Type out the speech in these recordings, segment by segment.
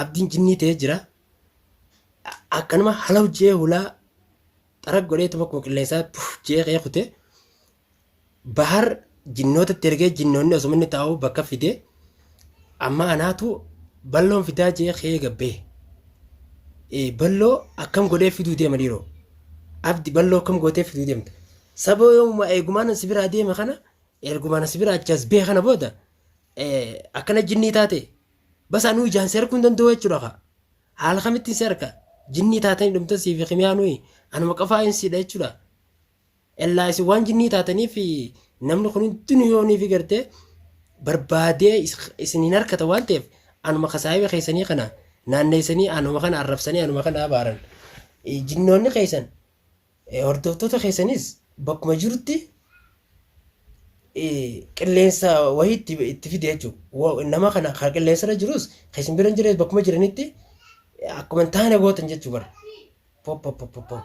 Abdiin jinnii ta'ee jira. Akkanuma halaw jee hulaa xarag godhee tuma koo qilleensaa puuf jee qee kutee Bahar jinnoota itti ergee jinnoonni osuma inni taa'u bakka fide amma anaatu balloon fidaa jee kee gabbee. Eh, Balloo akkam godhee fiduu deema dhiiroo. Abdi balloo akkam gootee fiduu deemta. Saboo yoomuma eegumaan si biraa deeme kana ergumaan si biraa achas bee kana booda eh, akkana jinnii taate bas anuu ijaan si arguu hin danda'u jechuudha kaa. Haala kamittiin si arga jinnii taatanii dhumtan siif himiyaa nuyi anuma qofaa hin siidha jechuudha. Ellaa isin waan jinnii taataniif namni kun hundinuu yoo niifi gartee barbaadee is- isin hin harkata waan ta'eef anuma kasaayiba keessanii kana naanneessanii anuma kana arrabsanii anuma kana abaaran. Eh, Jinnoonni keessan eh, hordoftoota keessanis bakkuma jirutti eh, qilleensa wahii itti, itti fide jechuudha. Wa- Nama kana kan qilleensarra jirus kan isin bira hin jirres bakkuma jiranitti eh, akkuma hin taane gootan jechuu bara. Pop, pop, pop, pop, pop.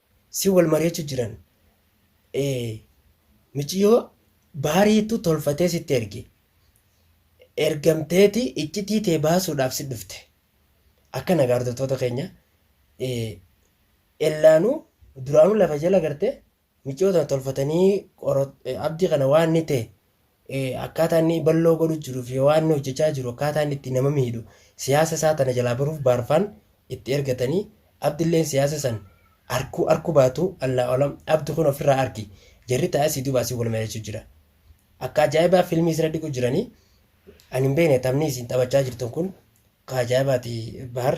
si wal mariachu jiran ee miciyo baariitu tolfatee sitti erge ergamteeti iccitii tee baasuudhaaf si dhufte akkana gaa hordoftoota keenya ee ellaanu duraanu lafa jala garte miciyoo tana tolfatanii qoro- ee, abdii kana waan ni ta'e akkaataa inni balloo godhu jiruu fi waan inni hojjechaa jiru akkaataa inni itti nama miidhu siyaasa isaa tana jalaa baruuf baarfaan itti ergatanii abdilleen siyaasa san arkuu arku baatu allaa olam abdi kun ofirraa arki jarri taa'ee si duubaa si wal mari'achuu jira akka ajaa'ibaa fiilmii isira dhiqu jiranii ani hin beekne taphni isin taphachaa jirtan kun ka ajaa'ibaati bahar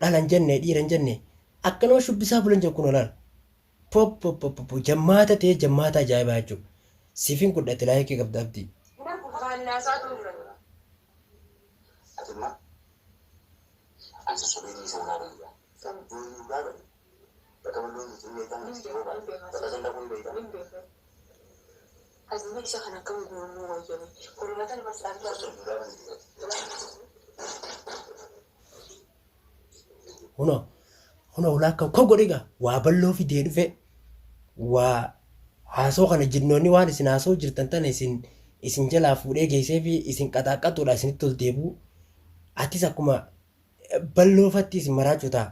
dhala hin jenne dhiira hin jenne akkanuma shubbisaa bulan jiru kunoo laal popopopopo jammaata ta'ee jammaata ajaa'ibaa jechuudha siifin godha ati laayikii qabda abdii. Aduunyaa isa kana akkam guuruu wayya mee. Furmaata nama si argaa jiru dhugaa bayyee. Kunoo kunoo ulaa akka koo godhe egaa waa bal'oo fidee dhufe waa haasoo kana jinnoonni waan isin haasoo jirtan tana isin isin jalaa fuudhee geessee fi isin qaxaaqqatuudha isinitti ol deebi'u. Atis akkuma bal'oofatti isin maraachuu ta'a.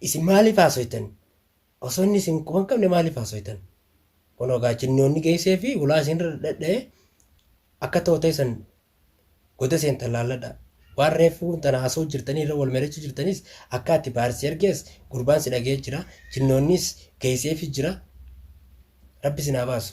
Isin maaliif haasoytan? Osoo inni isin quba hin qabne maaliif haasoytan? Kunoo gaa jinnoonni geessee fi hulaa isin irra dhadha'ee akka tootee san goda seentan laalladha. Waan reeffuun tana haasoo jirtanii irra wal mari'achuu jirtanis akka ati baar si ergees gurbaan si dhaga'ee jira. Jinnoonnis geessee fi jira. Rabbi isin haa baasu.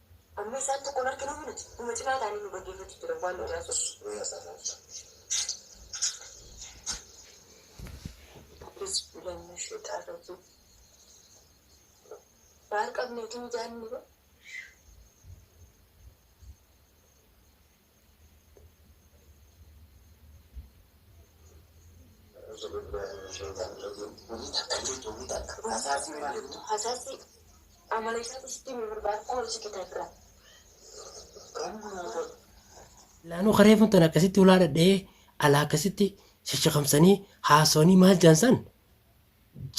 Amma isaan tokkon arginuufi nuti numa cinaa taa'anii nu dhaggeeffachuu jiran waan nu naasuuf. Auzu billahi mina shexaan rajiim. Baar qabneetu mijaanni ba. Laanoo ka reefun tan akkasitti hulaa dhadhee alaa akkasitti shashakamsanii haasawanii maal jaan san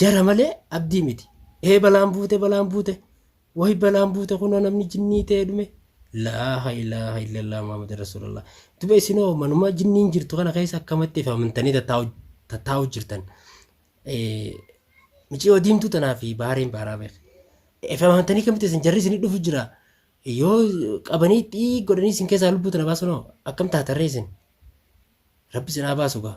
jara malee abdii miti. Ee balaan buute balaan buute Wayi balaan buute kunoo namni jinnii ta'e dhume. Laaha ilaaha illallah Muhammad Rasulallah. Duba isinoo manuma jinniin jirtu kana keessa akkamatti if amantanii tattaa'u tattaa'u jirtan. Eh, Miciyoo diimtuu tanaa fi bahareen baaraa beek. If amantanii kamitti isin jarri isin dhufu jira. Yoo qabanii xii godhanii isin keessaa lubbuu tana baasunoo akkam taatarree isin. Rabbi isin haa baasu gaa.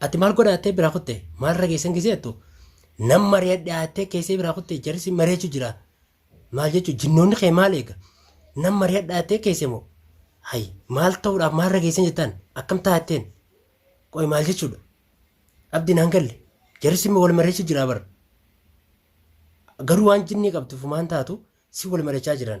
Ati maal godhaattee biraa kutte? Maal rageessan gisee attu? Nam mari'adhaattee keessee biraa kutte jarsi mari'achu jira. Maal jechuun jinnoonni kee maal eega? Nam mari'adhaa jettee keesse moo? Hayi maal ta'uudhaaf maal rageessan jettaan? Akkam taatteen? Qoy maal jechuudha? Abdi naan galle. Jarri simmi wal mari'achi jira bar. Garuu waan jinnii qabdu fumaan taatu si wal mari'achaa jiran.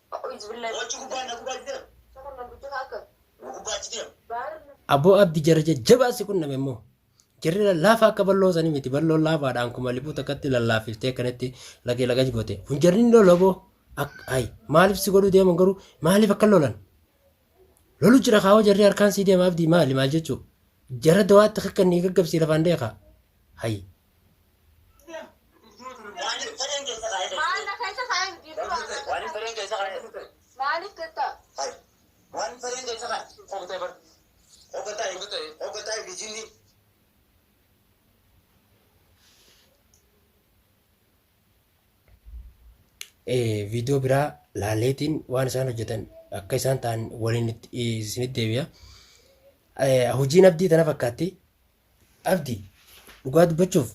Aboo abdi jara jajjabaa si qunname immoo jarri lallaafaa akka balloo sanii miti balloon laafaadhaan kuma liphuu takkatti lallaafiftee akkanatti lagee lagaj goote kun jarri hin lolu aboo Ak- ay maaliif si godhuu deeman garuu maaliif akka lolan lolu jira kaawoo jarri harkaan sii deema abdii maali maal jechuu jara dawaatti kakkanni gaggabsii lafaan deekaa hay viidiyoo biraa laaleetiin waan isaan hojjetan akka isaan ta'an waliin isinitti deebi'a. Hojiin abdii tana fakkaatti Abdi dhugaa dubbachuuf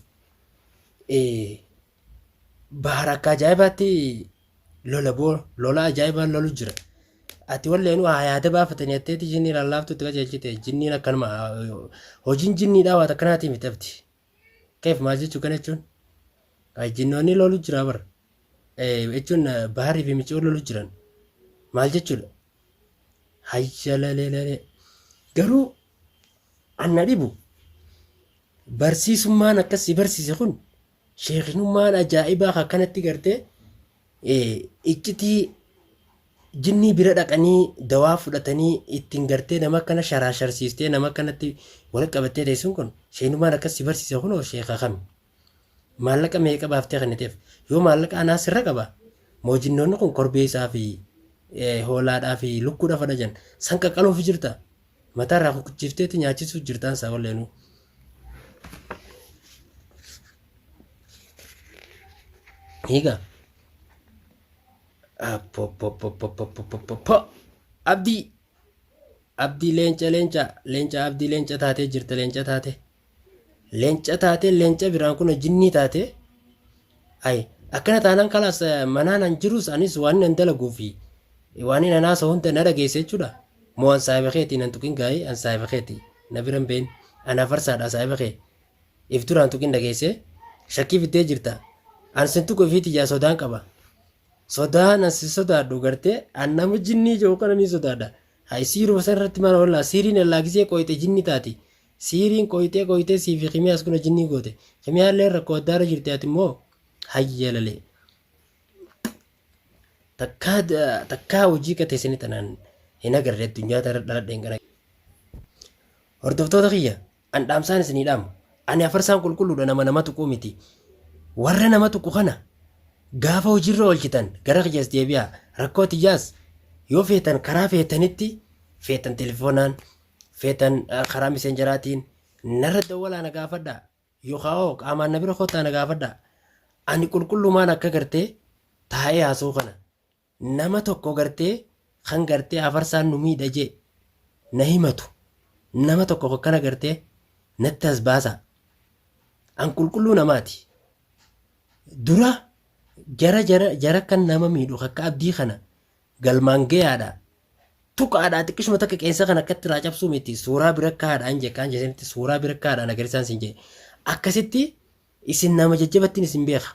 bahar akka ajaa'ibaatti lola boo lola ajaa'ibaa lolu jira. Ati walleen waa yaada baafatanii atteetti jinnii lallaaftu itti qajeelchite jinniin akkanuma hojiin jinniidhaa waan akkanaatii miti abdi. Keef maal jechuu kana jechuun jinnoonni lolu jira bara. Jechuun baharii fi micoo lolu jiran maal jechuudha? Hayyalaleelale garuu Anna dhibu barsiisummaan akkas si barsiise kun sheekinummaan ajaa'ibaa akkanatti gartee iccitii jinnii bira dhaqanii dawaa fudhatanii ittiin gartee nama akkana sharaasharsiistee nama akkanatti wal qabattee teessuun kun sheekinummaan akkas si barsiise kun sheeka kami? Maallaqa meeqa baaftee kenniteef? Yoo maallaqa anaa sirra qaba, moojinnoonni kun korbeessaa fi eh, hoolaadhaa fi lukkuudha fadha jan san qaqqaluuf jirta. Mataa irraa kukkuchiifteetti nyaachisuuf jirtaan isaa walleenuu. Egaa Apopopopopopopopoppo. Abdii! Abdii leenca leenca leenca abdii leenca taatee jirta leenca taate. Leenca taatee leenca biraan kun jinnii taatee ay akkana taanaan kalaas manaan an jirus anis waan nan dalaguu fi waan nan haasa hunda na dhageesse jechuudha. Moo an saahiba keeti nan tuqin gaa'ee an saahiba keeti na biran been an afarsaadha saahiba kee if duraan tuqin dhageesse shakkii fiddee jirta an sin tuqu ifiiti jaa sodaan qaba. Sodaan an si sodaadhu gartee an nama jinnii jiru kana ni sodaadha. Hay siiruma san irratti maal oolaa siiriin allaa gisee qooyxe jinnii taati. Siiriin qoyxee qoyxee sii fi kimiyaas kuna jinnii goote. Kimiyaallee rakkoo addaarra jirti ati immoo hayya lalee. Takkaa takkaa hojii qatee sini tanaan hin agarre addunyaa tana dhaladheen kana. Hordoftoota kiyya an dhaamsaan isinii dhaamu. Ani afarsaan qulqulluudha nama nama tuquu miti. Warra nama tuqu kana gaafa hojiirra oolchitan gara kiyyaas deebi'aa rakkoo tiyyaas yoo feetan karaa feetanitti feetan telefoonaan feetan karaa miseenjaraatiin narra dawwalaa na gaafadhaa yookaa'oo qaamaan na bira kottaa na gaafadhaa ani qulqullumaan akka gartee taa'ee haasoo kana nama tokko gartee kan gartee afarsaan nu miidha jee na himatu nama tokko akkana gartee natti as baasaa an qulqulluu namaati dura jara jara jara kan nama miidhu akka abdii kana Galmaan gayaadha. Tuqa haadhaa xiqqishuma takka qeensa kan akkatti irraa cabsuu miti. Suuraa bira akka haadhaan jee kaan jeesanitti suuraa bira akka haadhaan agarisaan sin jee. Akkasitti isin nama jajjabattiin isin beeka.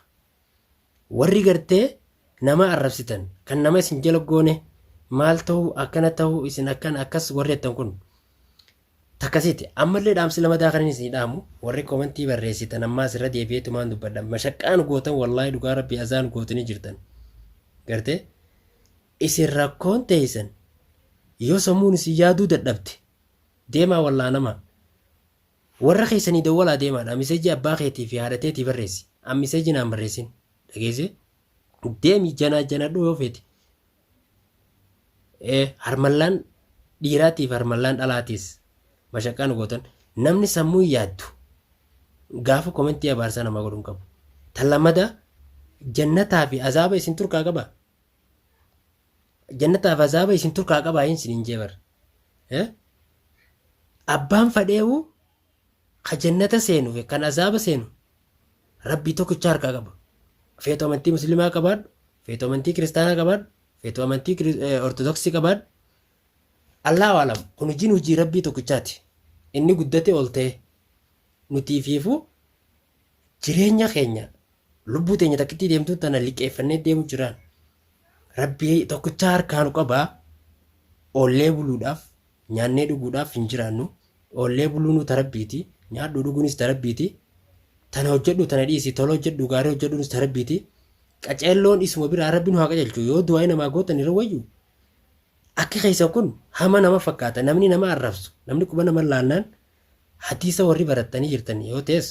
Warri gartee nama arrabsitan kan nama isin jala goone maal ta'uu akkana ta'uu isin akkan akkas warri jettan kun. Takkasiiti. Ammallee dhaamsi lamataa kanin isinii dhaamu warri komentii barreessitan ammaas irra deebi'eetumaan dubbadha mashaqqaa nu gootan wallaahi dhugaa rabbii azaa nu gootanii jirtan gartee isin rakkoon teeysan yoo sammuun isin yaaduu dadhabde deemaa wallaanamaa warra keessanii dawwalaa deemaadha miseejii abbaa keetii fi haadha teetii barreessi an miseejii naan barreessin dhageessee deemi janaa janadhuu yoo feete Ee harmallaan dhiiraatiif harmallaan dhalaatiis mashaqqaa nu gootan namni sammuu hin yaaddu gaafa komentii abaarsaa namaa godhu hin qabu. Tan lammataa jannataa fi azaaba isin turkaa qaba. Jannataa fi azaaba isin turkaa qaba hin sinin jee bar. Eh? Abbaan fadheehu Ka jannata seenu fi kan azaaba seenu Rabbii tokkicha harkaa qaba. Feetu amantii muslimaa qabaadhu, feetu amantii kiristaanaa qabaadhu, feetu amantii Kiri- eh, ortodoksii qabaadhu. Allahu alam kun hojiin hojii Rabbii tokkichaati. Inni guddate ol ta'e. Nutii fiifuu jireenya keenya lubbuu teenya takkittii deemtuu tana liqeeffannee deemu jiraan rabbii tokkicha harkaa nu qabaa oollee buluudhaaf nyaannee dhuguudhaaf hin jiraannu oollee buluunuu tarabbiiti nyaadhuu dhuguunis tarabbiiti tana hojjedhu tana dhiisi tola hojjedhu gaarii hojjedhuunis tarabbiiti qaceelloon isuma biraa rabbi nu haa qajeelchu yoo du'aa namaa gootan irra wayyu akki keessan kun hama nama fakkaata namni nama arrabsu namni quba nama laannaan hadiisa warri barattanii jirtan yoo ta'es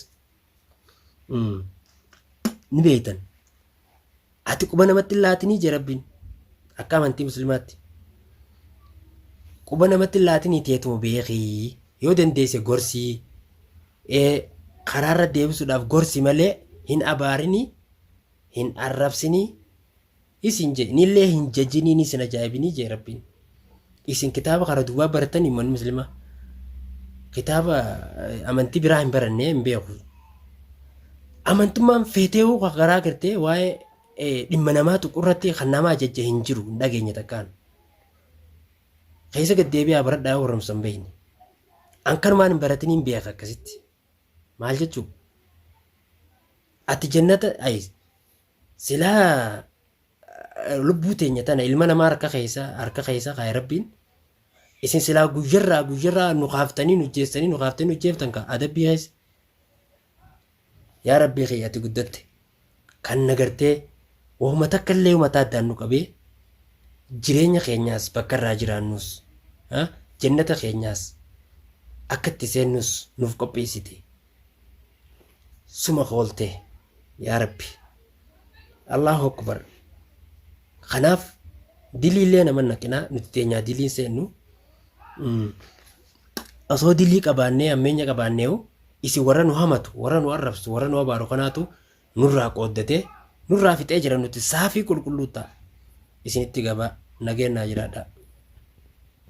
ni beektan. Ati quba namatti hin laatinii jee rabbiin akka amantii muslimaatti. Quba namatti hin laatinii teetuma beekii yoo dandeesse gorsii karaarra deebisuudhaaf gorsi malee hin abaarinii hin arrabsinii Isin je, nillee hin jajiniin isin ajaa'ibinii jee rabbiin. Isin kitaaba kana duwwaa baratan ummanni muslimaa. Kitaaba eh, amantii biraa hin barannee hin beeku. Amantummaan feeteewuu kan garaa gartee waa'ee eh, dhimma namaa tuqurratti kan namaa jajja hin jiru hin dhageenye takkaan. Keessa gad deebi'aa baradhaa warra musan beeyne. An kanumaan hin baratiniin beeka akkasitti. Maal jechuu? Ati jannata ayis. Silaa lubbuu teenya tana ilma namaa harka keessa harka keessa kaa'e rabbiin isin silaa guyyarraa guyyarraa nu kaaftanii nu jeessanii nu kaaftanii nu jeeftan ka adabbii keessa. Yaa rabbii kee ati guddatte kan nagartee wahuma takka illee mataa addaan nu qabee jireenya keenyaas bakka irraa jiraannus ha? jannata keenyaas akka itti seennus nuuf qopheessite suma hooltee yaa rabbi allahu akbar kanaaf diliillee nama naqinaa nuti teenyaa diliin seennu Mm. osoo dilii qabaannee ammeenya qabaanneehu isin warra nu hamatu warra nu arrabsu warra nu abaaru kanaatu nurraa qooddatee nurraa fixee jira nuti saafii qulqulluu ta'a isinitti gabaa nageenyaa jiraadhaa